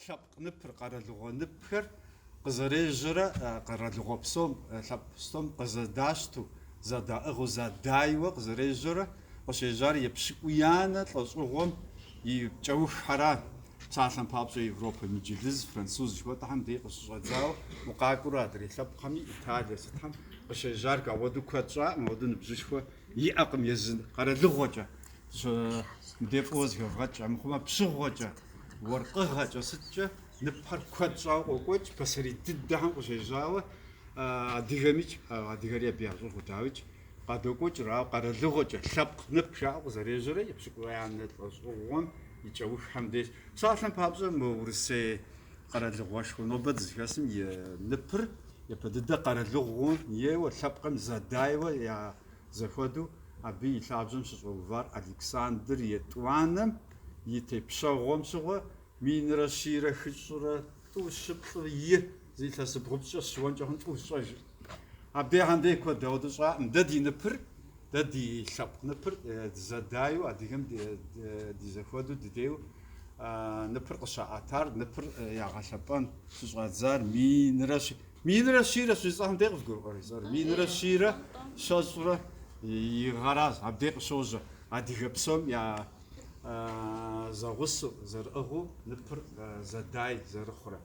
Лъэпкъ ныпыр, къэралыгъуэ ныпхэр къызэрежьэрэ къэралыгъуэ псом, лъэпкъ псом къызэдащту, зэдаӏыгъыу, зэдайуэ къызэрежьэрэ къыщежьар епщыкӏуиянэ лӏэщӏыгъуэм и кӏэуххьэра? Псалъэм папщӏэ, Европэм инджылыз, француз жыхуэтӏэхэм дей къыщыщӏэдзауэ укъакӏуэурэ адрей лъэпкъхэми, Италие сытхэм къыщежьар ауэду куэд щӏакъым, ауэду ныбжьышхуэ иӏэкъым езы къэралыгъуэкӏэ, мыбдей фӏыуэ зыхэвгъэкӏ, амыхъумэ пщыгъуэкӏэ. Уэркъыгъэкӏэ сыткӏэ ныпхэр куэд щӏауэ къокӏуэкӏ, пасэрей дыдэхэм къыщежьауэ адыгэмикӏ, адыгэри абы ящӏыгъу дауикӏ, къадокӏуэкӏыр, ауэ къэралыгъуэкӏэ лъэпкъ нып жаӏэу къызэрежьэрэ епщыкӏуиянэ лӏэщӏыгъуэм и кӏэуххэм деж. Псалъэм папщӏэ, мы Урысей къэралыгъуэшхуэ нобэ дызыхэсым и ныпыр япэ дыдэ къэралыгъуэм ейуэ, лъэпкъым зэдайуэ я зэхуэдэу абы и лъабжьэм щыщӏэувар Александр етӏуанэм, и тепщэгъуэм щыгъуэ минрэ щийрэ хыщӏрэ тӏу щыплӏыр зы илъэс бгъупщӏкӏэ сыщыуэнкӏэ хъун тӏу щӏэжыр. Абдей хьэндей куэд ауэду щӏакъым. Дэ ди ныпыр, дэ ди лъэпкъ ныпыр дызэдайуэ, адыгэм ди зэхуэду дыдеу ныпыр къыщаӏэтар, ныпыр ягъэлъэпӏэн щыщӏадзар минрэ минрэ щийрэ щэщӏ гъэхьэм дей къызгурыӏуэр изор. Минрэ щийрэ щэщӏрэ и гъэращ. Абдей къыщожьэ адыгэ псом я зэгъусэу, зэрыӏыгъыу ныпыр зэдай зэрыхъурэ.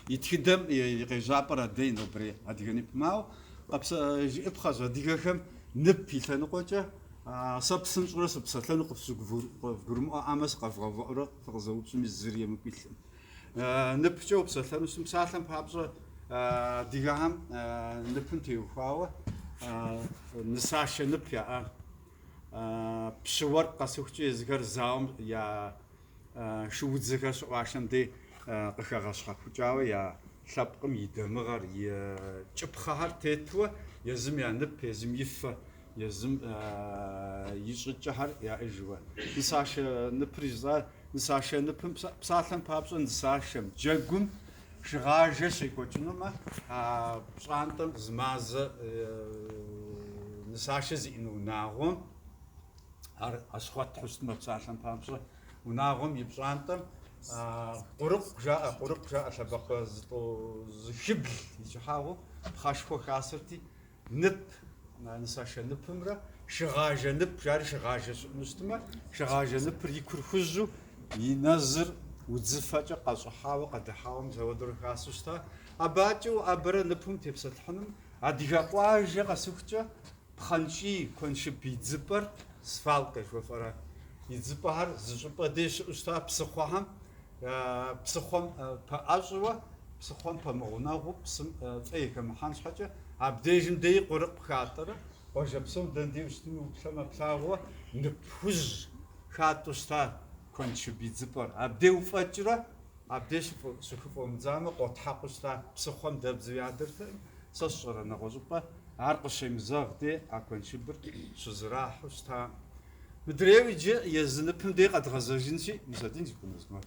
И тхыдэм и къежьапӏэр абдей нобрей адыгэ ныпым, ауэ къэпсэжыӏыпхъэщ адыгэхэм нып и лъэныкъуэкӏэ сэ псынщӏурэ сыпсэлъэну къывгурымыӏуэӏамэ сыкъэвгъэувыӏэурэ фыкъызэупщӏми зыри емыкӏу илъым. Ныпкӏэ упсэлъэну сым псалъэм папщӏэ адыгэхэм ныпым теухуауэ нысашэ нып яӏа. Пщы уэркъ къэсыхукӏэ езыхэр зауэм я шуудзэхэр щыӏуашэм дей къыхэгъэщхьэхукӏауэ я лъэпкъым и дамыгъэр, и кӏыпхъэхэр тетуэ езым я нып, езым и фэ, езым и щӏыкӏэхэр яӏыжуэ. Нысашэ ныпыр жысӏар нысашэ ныпым псалъэм папщӏэ нысашэм, джэгум Шыгъажэ щекӏуэкӏынумэ, а пщӏантӏэм зы мазэ нысашэ зиӏэну унагъуэм, ар Ащхъуэтхьу щытмэ псалъэм папщӏэ, унагъуэм и пщӏантӏэм Къурыкъу жаӏэ, Къурыкъу жаӏэ лъэбакъуэ зыхыбл и кӏыхьагъыу пхъэшхуэ хасэрти, нып, нысашэ ныпымрэ шыгъажэ нып, жари шыгъажэ щыӏэну щытымэ, шыгъажэ ныпыр и кур хужьу, и нэзыр удзыфэкӏэ къэщӏыхьауэ, къэдыхьауэ мис ауэдурэ хасу щыта. Абыкӏэ уӏэбэрэ ныпым тепсэлъыхьыным, адыгэ къуажэ къэсыхукӏэ, пхъэнкӏий, куэншыб идзыпӏэр, свалка жыхуэфӏэра, идзыпӏэхэр зы щӏыпӏэ дей щыӏэу щыта, псыхъуэхэм Псыхъуэм пэӏэщӏэуэ, псыхъуэм пэмыгъунэгъуу псым фӏей хэмыхьэн щхьэкӏэ, абдежым деи къурыгъ хатӏэрэ, къуажэ псом дэндей ущытми уплъэмэ плъагъууэ, нып хужь хатӏэу щыта куэншыб идзыпӏэр. Абдей уфӏэкӏрэ, абдей щыхыфӏумыдзамэ, къотхьэкъуу щыта псыхъуэм дэбдзэу ядэртэкъым. Сэ сщӏэрэ нэгъуэщӏыпӏэ ар къыщемызэгъ дей а куэншыбыр щызэрахьэу щытакъым. Мыдрейуэ иджы езы ныпым дей къэдгъэзэжынщи, мис адин зи кӏуэну змэ.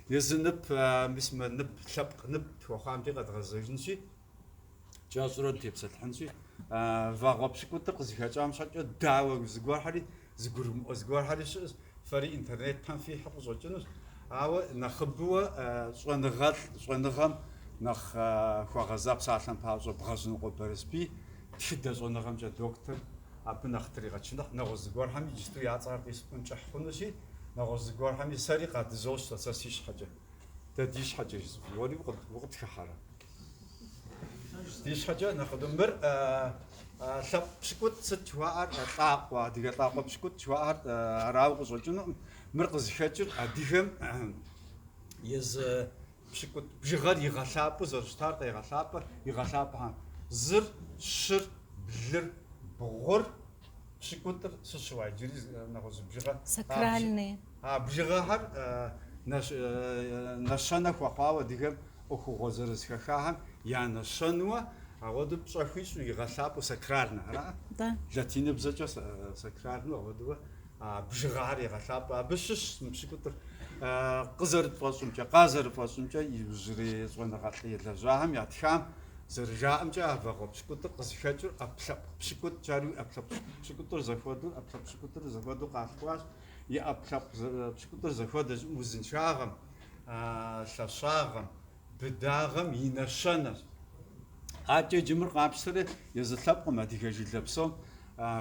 Езы нып, мис мы нып, лъэпкъ нып хуэхъуам дей къэдгъэзэжынщи, кӏэщӏурэ дытепсэлъыхьынщи, вагъуэ пщыкӏутӏыр къызыхэкӏам щхьэкӏэ, дауэ зыгуэрхьэри, зэгурымыӏуэ зыгуэрхьэри щыӏэщ, фэри интернетым фихьу къыщӏэкӏынущ, ауэ нэхъыбэуэ щӏэныгъэлӏ, щӏэныгъэм нэхъ хуэгъэза псалъэм папщӏэ Бгъэжьнокъуэ Бэрэсбий тхыдэ щӏэныгъэмкӏэ доктор Абы нэхъ тригъэчыныхь, нэгъуэщӏ зыгуэрхэми иджыпсту я цӏэхэр къисӏуэн кӏыхь хъунущи, нэгъуэщӏ зыгуэрхэми сэри къадызощтэ, сэ си щхьэкӏэ. Дэ ди щхьэкӏэ жызоӏэ, уэри укъытхыхьэрэ? Ди щхьэкӏэ нэхъыбэ. Мыр лъэпкъ пщыкӏутӏ сыт жыхуаӏэр, лӏакъуэ, адыгэ лӏакъуэ пщыкӏутӏ жыхуаӏэр арауэ къыщӏэкӏынукъым. Мыр къызыхэкӏыр адыгэм езы Пщыкӏутӏ бжыгъэр игъэлъапӏэу зэрыщытар игъэлъапӏэ, игъэлъапӏэхьэм зыр, щыр, блыр, бгъур, пщыкӏутӏыр сыт щыӏа иджыри нэгъуэщӏ бжыгъэ. Сакральные. А бжыгъэхэр нэщэнэ хуэхъуауэ адыгэм ӏуэхугъуэ зырыз хэхахэм я нэщэнуэ, ауэдэу пщӏэ хуищӏу игъэлъапӏэу сакральнэ, ара? Да. Латиныбзэкӏэ сакральнэ ауэдууэ. А бжыгъэхэр егъэлъапӏэ. Абы щыщщ мы пщыкӏутӏыр. Къызэрытфӏэщӏымкӏэ, къазэрыфӏэщӏымкӏэ, иужьрей щӏэныгъэлӏ елэжьахэм ятхам зэрыжаӏэмкӏэ, а вагъуэ пщыкӏутӏыр къызыхэкӏыр ӏэпкълъэпкъ пщыкӏутӏ жаӏэри ӏэпкълъэпкъ пщыкӏутӏыр зэхуэдэу, ӏэпкълъэпкъ пщыкӏутӏыр зэхуэдэу къалъхуащ. И ӏэпкълъэпкъ пщыкӏутӏыр зэхуэдэщ узыншагъэм, лъэщагъэм. быдагъэм и нэщэнэщ. Атӏэ иджы мыр къапщтэри, езы лъэпкъым адыгэ жылэ псом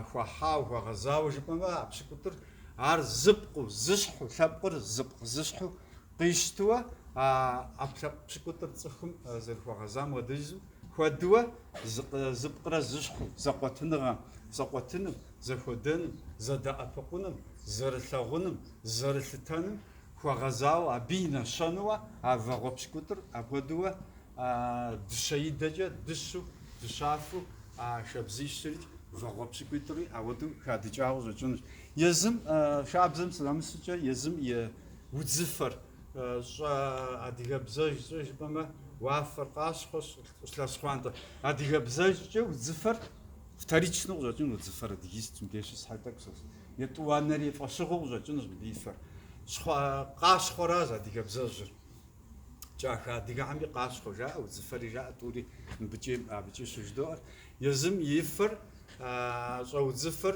хуэхьауэ, хуэгъэзауэ жыпӏэмэ, а пщыкӏутӏыр ар зыпкъыу, зыщхьу, лъэпкъыр зыпкъ зыщхьу къищтыуэ, а ӏэпкълъэпкъ пщыкӏутӏыр цӏыхум зэрыхуэгъэзам хуэдыжу, хуэдыуэ зыпкърэ зыщхьу зэкъуэтыныгъэм, зэкъуэтыным, зэхуэдэным, зэдэӏэпыкъуным, зэрылъэгъуным, зэрылъытэным, хуэгъэзауэ абы и нэщэнуэ а вагъуэ пщыкӏутӏыр апхуэдууэ дыщэ идэкӏэ дыщу, дыщафу а шабзищри вагъуэ пщыкӏутӏри ауэду хадыкӏауэ къыщӏэкӏынущ. Езым шабзэм сынэмысыкӏэ, езым и удзыфэр щӏэ адыгэбзэжькӏэ жыпӏэмэ уафэр къащхъуэ, щӏылъэ щхъуантӏэ. Адыгэбзэжькӏэ удзыфэр вторичну къыщӏэкӏынущ, удзыфэр адыгист мыбдеж щыс щхьэкӏэ тӏэкӏу сохъу. Етӏуанэри фӏэщыгъуэу къыщӏэкӏынущ мыдэ и фэр. Щхъуэ, къащхъуэращ адыгэбзэжьыр. Кӏахэ адыгэхьэми къащхъуэ жаӏэ, удзыфэри жаӏэ, тӏури мыбыкӏи абыкӏи щыжыдоӏэр. Езым и фэр щӏэудзыфэр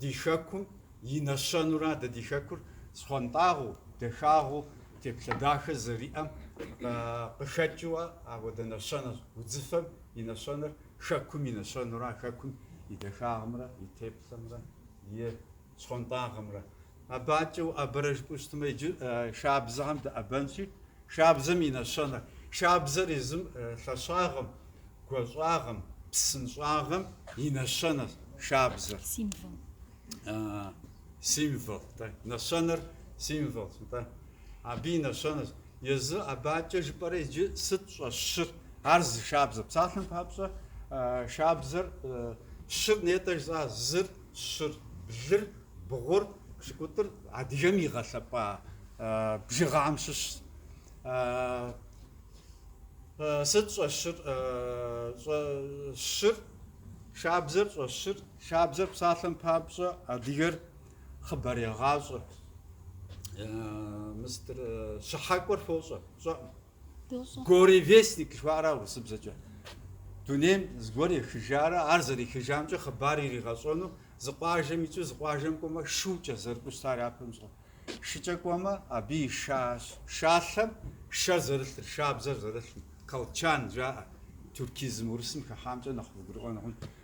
ди хэкум и нэщэнура, дэ ди хэкур щхъуантӏагъэу, дахагъэу, теплъэ дахэ зэриӏэм къыхэкӏыуэ апхуэдэ нэщэнэщ. Удзыфэм и нэщэнэр Хэкум и нэщэнура Хэкум и дахагъымрэ и теплъэмрэ и щхъуантӏагъэмрэ. Абакӏэ уӏэбэрэ жыпӏэу щытмэ, иджы шабзэхэм дэӏэбэнщи, шабзэм и нэщэнэр. Шабзэр езым лъэщагъэм, гуащӏагъэм, псынщӏагъэм и нэщэнэщ шабзэр. Символ. Символ, да. Нэщэнэр символщ, да. Абы и нэщэнэщ. Езы Абакӏэ жыпӏэрэ иджы сыт щӏэщыр? Ар зы шабзэ. Псалъэм папщӏэ, шабзэр щыр нетӏэ жысӏа, зыр, щыр, блыр, бгъур, пщыкӏутӏыр адыгэм игъэлъэпӏа бжыгъэм щыщщ. Сыт щӏэщыр? Щыр, шабзэр щӏэщыр. Шабзэр псалъэм папщӏэ адыгэр хъыбарегъащӏэ. Мис щыхьэкӏуэр фощӏэ, сщӏэӏым. Горевестник жыхуаӏэра урысыбзэкӏэ. Дунейм зыгуэр ехыжарэ, ар зэрехыжамкӏэ хъыбар иригъэщӏэну, зы къуажэм икӏыу зы къуажэм кӏуэмэ, шукӏэ зэрыкӏуэу щытар япэм щӏэ. Шыкӏэ кӏуэмэ, абы и ша, шалъэм шэр зэрылъыр, шабзэр зэрылъым, колчан жаӏэ. Тюркизм урысым хыхьамкӏэ нэхъ вгурыӏуэн хъунщ.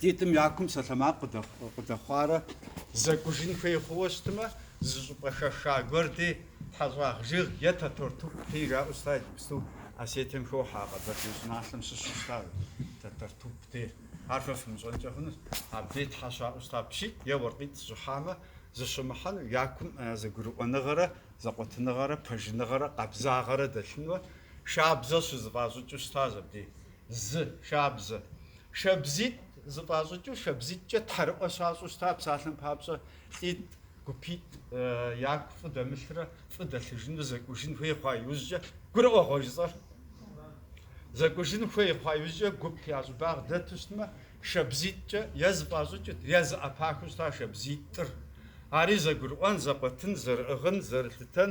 Лӏитӏым я кум псалъэмакъ къыдэхъуарэ зэкӏужын хуей хъууэ щытымэ, зы щӏыпӏэ хэха гуэр дей, тхьэщӏагъ жыг е Тэтэртуп дей жаӏэу щыта иджыпсту Осетием хохьэ а къэбэрдей щӏыналъэм щыщу щытар, Тэтэртуп дей. Ар фэ фымыщӏэнкӏэ хъунущ, абдей тхьэ щаӏуэу щыта пщитӏ е уэркъитӏ щыхьамэ, зыщымыхьэну я кум зэгурыӏуэныгъэрэ зэкъуэтыныгъэрэ пэжыныгъэрэ къабзагъэрэ дэлъынуэ, шабзэ щызыфӏащӏыкӏыу щытащ абдей. Зы шабзэ. Шабзитӏ зыфӏащӏыкӏыу, шабзитӏкӏэ тхьэрыӏуэ щащӏу щыта псалъэм папщӏэ, лӏитӏ, гупитӏ яку фӏы дэмылъурэ фӏы дэлъыжынурэ зэкӏужын хуей хъуа иужькӏэ, гурыӏуэгъуэ жысӏэр? Зэкӏужын хуей хъуа иужькӏэ гуп я щӏыбагъ дэту щытмэ, шабзитӏкӏэ е зыфӏащӏыкӏыт, е зыӏэпахыу щыта шабзитӏыр. Ари зэгурыӏуэн, зэкъуэтын, зэрыӏыгъын, зэрылъытэн,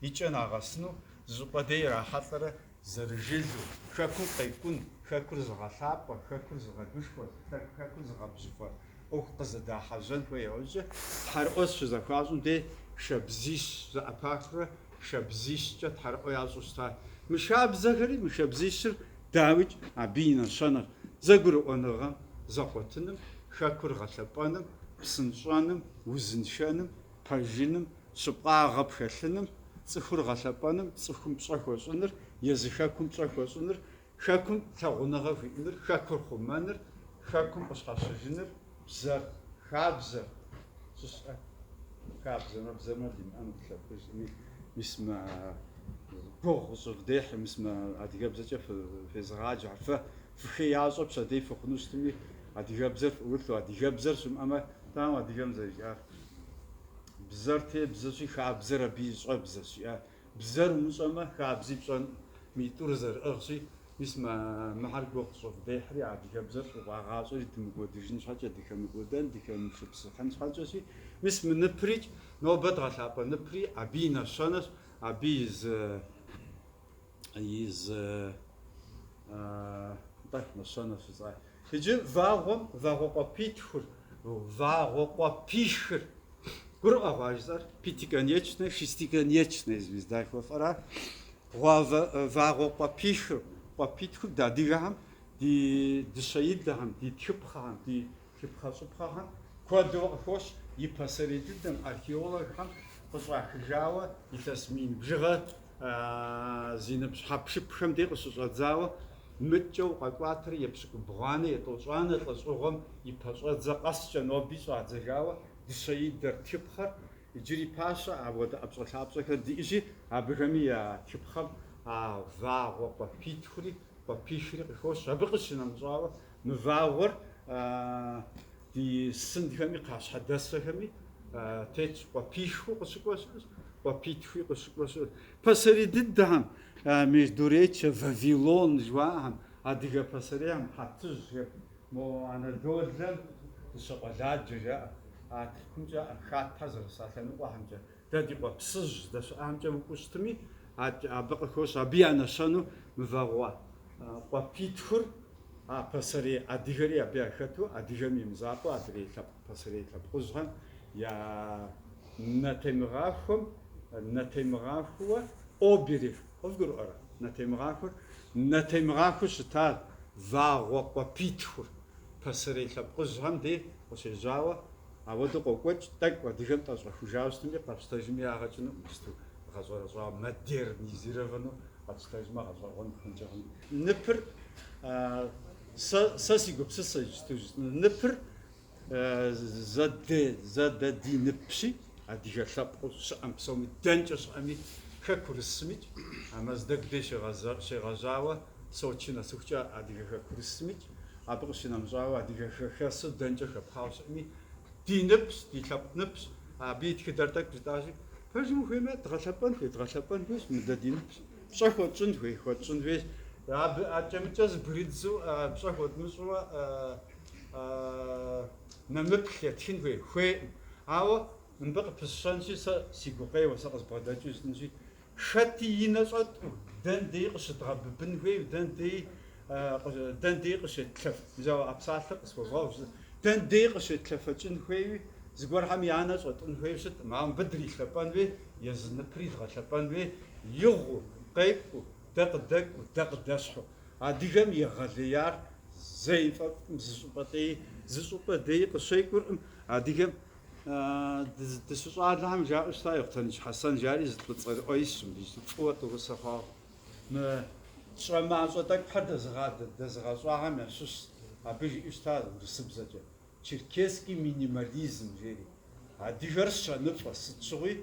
и кӏэ нагъэсыну зы щӏыпӏэ дей ирахьэлӏэрэ зэрыжылу, Хэкум къекӏун, Хэкур зыгъэлъапӏэ, Хэкур зыгъэгушхуэ, Хэкур зыгъэбжьыфэ ӏуэху къызэдахьэжьэн хуей иужькӏэ тхьэрыӏуэ щызэхуащӏым дей шабзищ зэӏэпахурэ шабзищкӏэ тхьэрыӏуэ ящӏу щыта мы шабзэхэри, мы шабзищыр дауикӏ абы и нэщэнэр зэгурыӏуэныгъэм зэкъуэтыным, Хэкур гъэлъэпӏэным, псынщӏэным, узыншэным, пэжыным, щыпкъагъэ пхэлъыным, цӏыхур гъэлъэпӏэным, цӏыхум пщӏэ хуэщӏыныр, езы хэкум пщӏэ хуэщӏыныр, хэкум лъагъуныгъэ хуиӏэныр, хэкур хъумэныр, хэкум къыщхьэщыжыныр, бзэр, хабзэр, щӏыщӏэ, хабзэмэ, бзэмэ димыӏэну къылъэпкъыжми, мис мы гугъу къыщӏывдехьи, мис мы адыгэбзэкӏэ фезыгъаджэ, ар фэ фыхеящӏэ пщэдей фыхъуну щытми, адыгэбзэр фӏулъу, адыгэбзэр щымыӏэмэ, тӏам адыгэм зэрыжиӏар. Бзэр тебзэщи, хабзэр абы и щӏэбзэщ, жиӏа. Бзэр умыщӏэмэ, хабзи пщӏэнкъым. Митӏур зэрыӏыгъщи, мис мы мыхьэр гугъу къыщӏывдехьри, адыгэбзэр щӏывагъащӏэри дымыкӏуэдыжын щхьэкӏэ, дыхэмыкӏуэдэн, дыхэмышыпсыхьын щхьэкӏэщи, мис мы ныприкӏ, нобэ дгъэлъапӏэ ныпри абы и нэщэнэщ, абы и зы. и зы. Нтӏэ, нэщэнэ фыцӏа. Иджы вагъуэм вагъуэ къуэпитхур, вагъуэ къуэпихыр. Гурыӏуэгъуэ жысӏэр? Пятиконечная, шестиконечная звезда жыхуэфӏэра? Вагъуэ къуэпихыр, къуэпитхур дэ адыгэхэм, ди дыщэидэхэм, ди тхыпхъэхэм, ди тхыпхъэщӏыпхъэхэм куэду къыхощ и пасэрей дыдэм, археологхэм къыщӏахыжауэ илъэс мин бжыгъэ зи ныбжь хьэпшыпхэм де къыщыщӏэдзауэ мыдэкӏэ укъэкӏуатэрэ епщыкӏубгъуанэ, етӏощӏанэ лӏэщӏыгъуэм и пэщӏэдзэ къэскӏэ ноби щӏадзэжауэ дыщэидэр тхыпхъэр иджыри пащэ, апхуэдэ ӏэпщӏэлъапщӏэхэр диӏэжи, абыхэми я тхыпхъэм а вагъуэ къуэпитхури къуэпихри къыхощ, абы къыщынэмыщӏауэ, мы вагъуэр ди сынхэми кхъащхьэдэсэхэми тетщ, къуэпихуи къыщыкӏуэ щыӏэщ, къуэпитхуи къыщыкӏуэ щыӏэщ. Пасэрей дыдэхэм, Междуречье, Вавилон жыхуаӏэхэм, адыгэ пасэрейхэм хьэтыжьхэр, мо Анадолэм дыщэ къуэладжэ жаӏэ, а Тыркумкӏэ, а хьэтхэр зэрыса лъэныкъуэхэмкӏэ Дэ ди къуэпсыжь здэщыӏамкӏэ укӏуэу щытми, адэкӏэ абы къыхощ абы я нэщэну мы вагъуэ къуэпитхур, а пасэрей адыгэри абы яхэту, адыгэм и мызакъуэу, адрей лъэпкъ пасэрей лъэпкъыжьхэм я нэтемыгъахуэм, нэтемыгъахуэ оберег къывгурыӏуэрэ? нэтемыгъахуэр, нэтемыгъахуэу щыта вагъуэ къуэпитхур, пасэрей лъэпкъыжьхэм де къыщежьауэ, Апхуэдэу къокӏуэкӏ тӏэкӏу адыгэм тӏэщӏэхужауэ щытыми къэпщтэжми ягъэкӏыну иджысту гъэщӏэрэщӏауэ, модернизировану къэпщтэжмэ гъэщӏэгъуэн хъункӏэ хъунщ. Ныпыр, сэ, сэ си гупсысэ иджысту жысӏэну, ныпыр зэдэдиныпщи, адыгэ лъэпкъыу щыӏэм псоми, дэнкӏэ щыӏэми, хэкурысымикӏ, а Мэздэгу дей щегъэжьауэ, Сочи нэсыхукӏэ адыгэ хэкурысымикӏ, абы къыщынэмыщӏауэ адыгэ хэхэсу дэнкӏэ хэпхъауэ щыӏэми, ди ныпщ, ди лъэпкъ ныпщ, абы и тхыдэр тӏэкӏу жытӏащи, пэжым ухуеймэ, дгъэлъэпӏэн хуей, дгъэлъэпӏэн хуейщ, мыдэ ди ныпщ, пщӏэ хуэтщӏын хуей, хуэтщӏын хуейщ, абы акӏэ-мыкӏэ зэбгрыддзу пщӏэ хуэдмыщӏу нэмыплъ етхын хуей, хуейӏым. Ауэ мыбы къыпысщэнщи, сэ си гукъеуэ, сэ къызбгъэдэкӏыу жытӏэнщи, Хэти и нэ щӏэтӏу, дэн деи къыщыдгъэбыбын хуейм, дэн деи, дэн деи къыщетлъэф, ауэ а псалъэр къысхуэвгъэгъу, зы, дэн деи къыщетлъэфэкӏын хуейуи, зыгуэрхэм я нэ щӏэтӏун хуейуи щытӏым, ауэ мыбы дрилъэпӏэн хуей, езы ныпри дгъэлъэпӏэн хуей, игъуу, къекӏуу, дэ къыдэкӏуу, дэ къыдэщхьу. Адыгэм и егъэлеяр зэи фӏэфӏым зы щӏыпӏэ деи, зы щӏыпӏэ деи къыщекӏуркъым, адыгэм. Дыщыщӏалэхэм жаӏэу щыта Ехъутэныч Хьэсэн жари зы лӏы цӏэрыӏуэ исщ, мыбы ищӏы фӏыуэ тӏорысэ хъуауэ. Мы тщӏэ мащӏэ тӏэкӏухэр дэзыгъэщӏахэм ящыщщ, абы жиӏэу щыта урысыбзэкӏэ, Черкесский минимализм жери. Адыгэр щэныфӏэ, сыт щыгъуи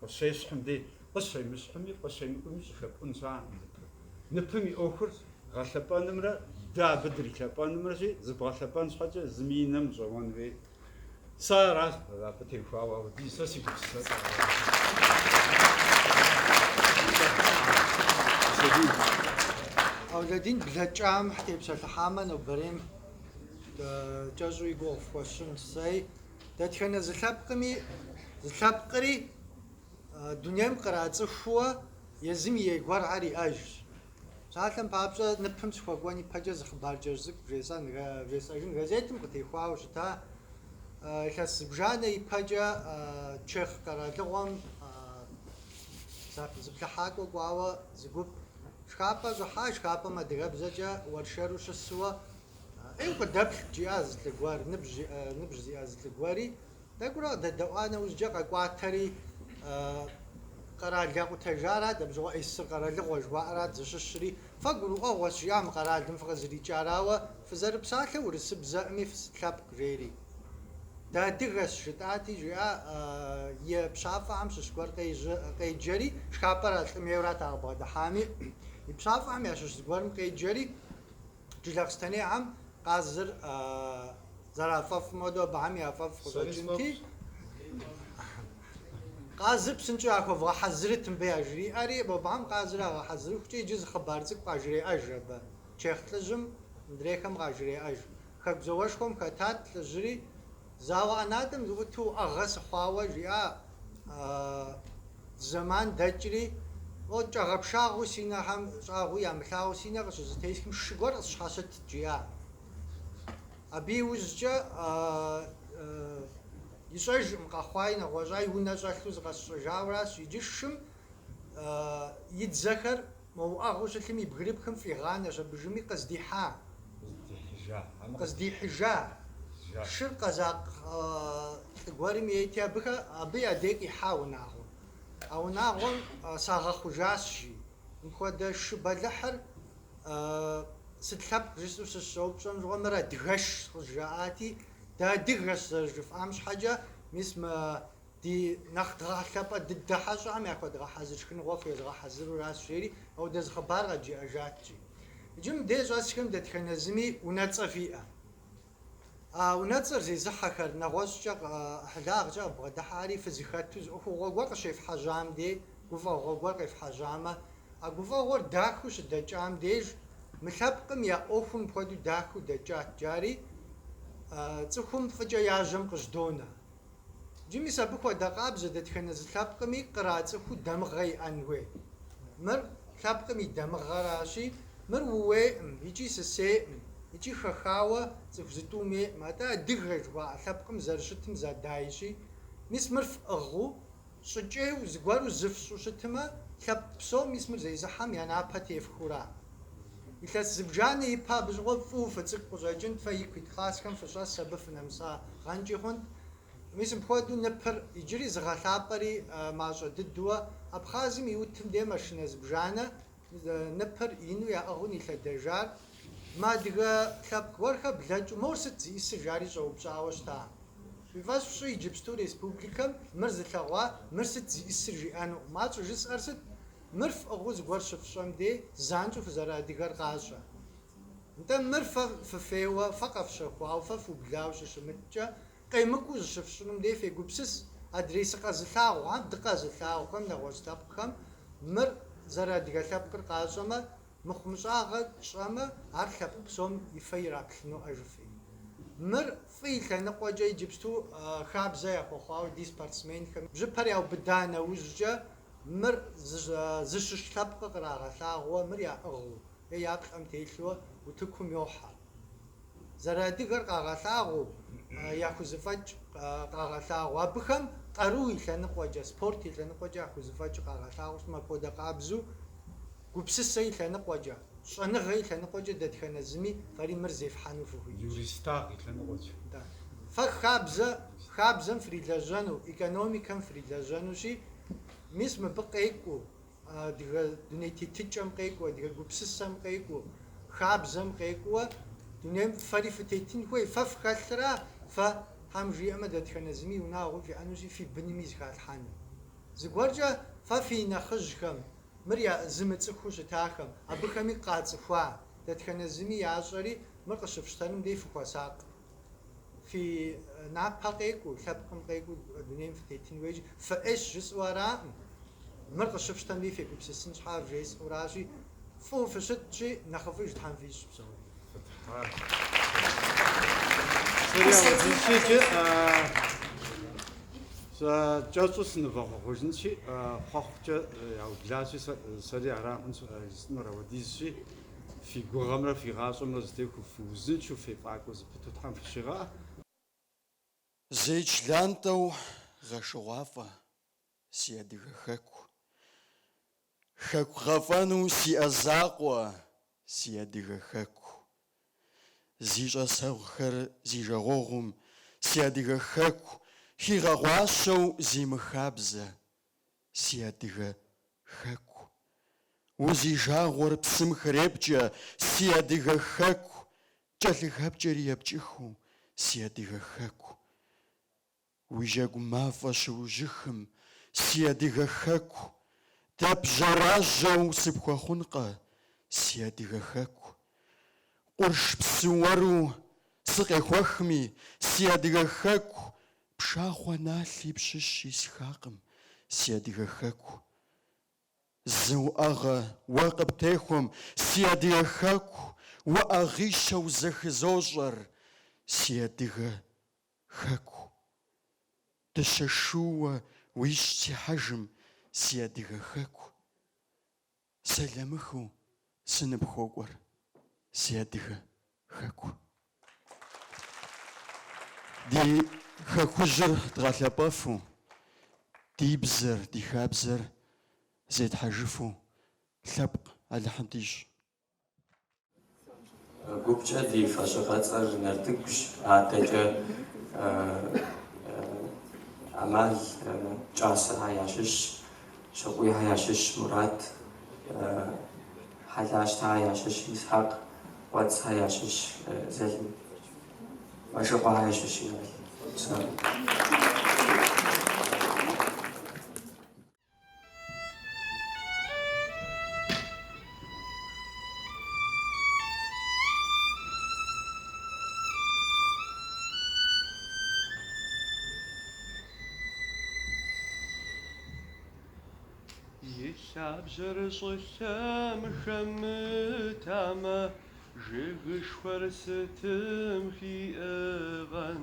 Къыщещхьым дей, къыщемыщхьыми, къыщемыкӏуми щӏыхэпӏун щыӏэкъым ныпым. Ныпым и ӏуэхур гъэлъэпӏэнымрэ дэ абы дрилъэпӏэнымрэщи, зыбгъэлъэпӏэн щхьэкӏэ зыми и нэм ущӏэуэн хуейт. Сэ аращ абы теухуауэ, ауэ ди сэ си гупсысэкӏэ аращ. Аулэдин блэкӏам тепсэлъыхьамэ, нобэрейм кӏэщӏу и гугъу фхуэсщӏынт. Сэ Дэтхэнэ зы лъэпкъми зы лъэпкъри дунейм кърацӏыхууэ езым и ей гуэрхэр иӏэжщ. Псалъэм папщӏэ, ныпым сыхуэкӏуэн ипэкӏэ зы хъыбар кӏэщӏ цӏыкӏу вжесӏэжын газетым къытехуауэ щыта илъэс зыбжанэ ипэкӏэ чех къэралыгъуэм зыплъыхьакӏуэ кӏуауэ зы гуп шхапӏэ щӏыхьа, шхапӏэм адыгэбзэкӏэ уэршэру щысуэ Ӏейуэ къыдэплъ, жиӏащ зы лӏы гуэр, ныбжь зиӏэ зы лӏы гуэри, тӏэкӏурэ къыдэдэӏуа нэужькӏэ къэкӏуатэри, Къэрал якъутэжарат, абы щыгъуэ СССР къэралыгъуэ жыхуаӏэрат зыщыщри, фэ гурыӏуэгъуэщ, жиӏащ мы къэралым фыкъызэрикӏар, ауэ фызэрыпсалъэр урысыбзэкъыми фысыт лъэпкъ, жери. Дыадыгэщ, жытӏати, жиӏа и пщафӏэхэм щыщ гуэр къеджэри, шхапӏэр а лӏым ейурат ар къыбгъэдыхьами, и пщафӏэхэм ящыщ зыгуэрым къеджэри, Джылахъстэнейхэм къазыр зэрафӏэфӏым хуэдэу абыхэм я фӏэфӏ къыщӏэкӏынти, къазыр псынщӏэу яхуэвгъэхьэзырыт мыбы яжриӏэри, мобыхэм къазыр ягъэхьэзырыхукӏэ иджы зы хъыбар цӏыкӏу къажреӏэж абы. Чех лӏыжьым мыдрейхэм къажреӏэж. Хэку зауэшхуэм хэтат лӏыжьыри. Зауэ ӏэнатӏэм сыӏуту уӏэгъэ сыхъуауэ, жиӏа зэман дэкӏри, о, кӏэгъэпшагъэу си нэхэм щӏагъуи ямылъагъуу си нэ къыщызэтесхым шы гуэр къысщхьэщытт, жиӏа. Абы иужькӏэ ищӏэжкъым, къэхъуаи нэгъуэщӏ я унэ щӏэлъу зыкъэсщӏэжауэращ, иджы шым и дзэхэр мо уӏэгъыу щылъым и бгырыпхым фӏигъанэщ абы жыми къыздихьа, къыздихьыжа, шыр къэзакъ лӏы гуэрым ейти, абыхэ, абы я дей къихьа унагъуэм. А унагъуэм сагъэхъужащ, жи. Мыпхуэдэ шы бэлыхьыр сыт лъэпкъ жысӏэу сыщыщӏэупщӏэм щыгъуэ, мыр адыгэшщ, къызжаӏати, дыадыгэщ зэрыжыфӏам щхьэкӏэ, мис мы Ди нэхъ дгъэлъапӏэ дыдэ хьэщӏэхэм яхуэдгъэхьэзыр шхыныгъуэ хуезгъэхьэзыруращ, жери ауэдэ зы хъыбар къэджиӏэжаткӏи. Иджы мыбдеж щӏэсхэм дэтхэнэ зыми унэцӏэ фиӏэ. А унэцӏэр зезыхьэхэр, нэгъуэщӏкӏэ ӏыхьлагъкӏэ къыбгъэдыхьэхэри фызыхэту, зы ӏуэхугъуэ гуэр къыщефхьэжьам дей гуфӏэгъуэ гуэр къефхьэжьамэ, а гуфӏэгъуэр дахэу щыдэкӏам деж, мы лъэпкъым я ӏуэхум пхуэдэу дахэу дэкӏат, жари цӏыхум фӏыкӏэ я жьэм къыжьдонэ. Джы мис абы хуэдэ къабзэ дэтхэнэ зы лъэпкъми кърацӏыхуу дамыгъэ иӏэн хуей. Мыр лъэпкъым и дамыгъэращи, мыр ууейӏым икӏи сысейӏым икӏи хэхауэ цӏыху зытӏум ейӏым. Атӏэ адыгэ жыхуаӏэ лъэпкъым зэрыщытым зэдайщи, мис мыр фӏыгъыу Щӏыкӏейу, зыгуэру зыфщӏу щытымэ, лъэпкъ псом мис мыр зезыхьэм я напэ тефхыура? Илъэс зыбжанэ ипэ абы щыгъуэ фӏыуэ фыцӏыкӏу къыщӏэкӏынт, фэ ику ит классхэм фыщӏэс абы фынэмысагъэнкӏи хъунт. Мис мыпхуэдэу ныпыр иджыри зыгъэлъапӏэри мащӏэ дыдууэ, Абхъазым и утым де машинэ зыбжанэ Ныпыр ину яӏыгъыу нилъэдэжар мы адыгэ лъэпкъ гуэрхэр блэкӏыу, мор сыт зиӏысыр жари щӏэупщӏауэ щыта. Фи фӏэщ фщӏы иджыпсту республикэм мыр зылъэгъуа, мыр сыт зиӏысыр жиӏэнукъым. Ар щӏыжысӏэр сыт? Мыр фӏыгъыу зыгуэр щыфщӏэм дей занщӏэу фызэрыадыгэр къащӏэ. Нтӏэ мыр фэ фыфейуэ, фэ къэфщэхуауэ, фэ фыублауэ щыщымыткӏэ, Къемыкӏуу зыщыфщӏынум дей фегупсыс, адрей сыкъэзылъагъу, ар дыкъэзылъагъухэм, нэгъуэщӏ лъэпкъхэм, мыр зэрыадыгэ лъэпкъыр къащӏэмэ, мыхъумыщӏагъэ тщӏэмэ, ар лъэпкъ псом и фэ ираплъыну ӏэ жыфӏи. Мыр фӏы и лъэныкъуэкӏэ иджыпсту хабзэ яхуэхъуауэ ди спортсменхэм бжьыпэр яубыда нэужькӏэ мыр зыщыщ лъэпкъыр кърагъэлъагъуэ, мыр яӏыгъыу е я плӏэм телъу утыкум йохьэ. Зэрыадыгэр къагъэлъагъуэу, яхузэфӏэкӏ къагъэлъагъуэу, абыхэм къару и лъэныкъуэкӏэ, спорт и лъэныкъуэкӏэ яхузэфӏэкӏ къагъэлъагъуэу щытмэ, апхуэдэ къабзэу гупсысэ и лъэныкъуэкӏэ, щӏэныгъэ и лъэныкъуэкӏэ дэтхэнэ зыми фэри мыр зефхьэну фыхуитщ. Юристагъ и лъэныкъуэкӏэ. Да. Фэ хабзэ, хабзэм фрилэжьэну, экономикэм фрилэжьэнущи, мис мыбы къекӏуу, Адыгэ дуней тетыкӏэм къекӏуу, адыгэ гупсысэм къекӏуу, хабзэм къекӏууэ дунейм фэри фытетын хуей? Фэ фхэлъра? Фэ, Тхьэм жиӏэмэ, дэтхэнэ зыми унагъуэу фиӏэнущи, фи бынми зыхалъхьэну. Зыгуэркӏэ фэ фи нэхъыжьхэм, мыр зымыцӏыхуу щытахэм, абыхэми къацӏыхуа, дэтхэнэ зыми ящӏэри мыр къыщыфщтэнум дей фыхуэсакъ. Фи напэ къекӏуу, лъэпкъым къекӏуу дунейм фытетын хуейщи, фыӏейщ жысӏэу араӏым. Мыр къыщыфщтэмри, фегупсысын щхьа вжесӏэуращи, фӏыуэ фыщытщи, нэхъыфӏыж Тхьэм фищӏ псори. Сэ кӏэщӏу сынывэхъуэхъужынщи, хъуэхъукӏэ яублащи, сэри аракъым жысӏэнур, апхуэдизщи. Фи гугъэмрэ фи гъащӏэмрэ зытехуэу фыузыншэу фефӏакӏуэ зыпыту Тхьэм фыщигъэӏэ. Зеич лантӏэу гъэшыгъуафӏэ, си адыгэ хэку. Хэку гъэфӏэну сиӏэ закъуэ, си адыгэ хэку. Зи щӏэсэгъухэр зи жагъуэгъум, си адыгэ хэку, хигъэгъуащэу зи мыхабзэ. Си адыгэ хэку. Узи жагъуэр псым хрепкӏэ, Си адыгэ хэку. Кӏэлъыхэпкӏэри епкӏыхыу, Си адыгэ хэку. Уи жьэгу мафӏэ щыужьыхым, Си адыгэ хэку. Дэп жьэражьэу сыпхуэхъункъэ, Си адыгэ хэку. Къурш псы уэру сыкъехуэхми, Си адыгэ хэку, Пшахъуэ налъи пщыщ исхакъым си адыгэ хэку. Зы уӏэгъэ уэ къыптехуэм си адыгэ хэку уӏэгъищэу зэхызощӏэр си адыгэ хэку. Дыщэ шууэ уищӏ си хьэжым си адыгэ хэку. Сэламыхыу сыныпхуокӏуэр, си адыгэ хэку. Ди хэкужьыр дгъэлъапӏэфу, ди бзэр, ди хабзэр зетхьэжыфу лъэпкъ Алыхьым дищӏ. Гупкӏэ ди фӏэщыгъэцӏэр Нартыгущ, адэкӏэ ӏэмал Кӏасэхэ ящыщщ, Щыкъуийхэ ящыщщ Мурат, Хьэлащтэхэ ящыщщ Исхьэкъ, Кӏуэцӏхэ ящыщщ Зэлим, Мэшыкъуэхэ ящыщщ Инал. И лъабжьэр щӏылъэм хэмытамэ, Жыгышхуэр сытым хиӏыгъэн?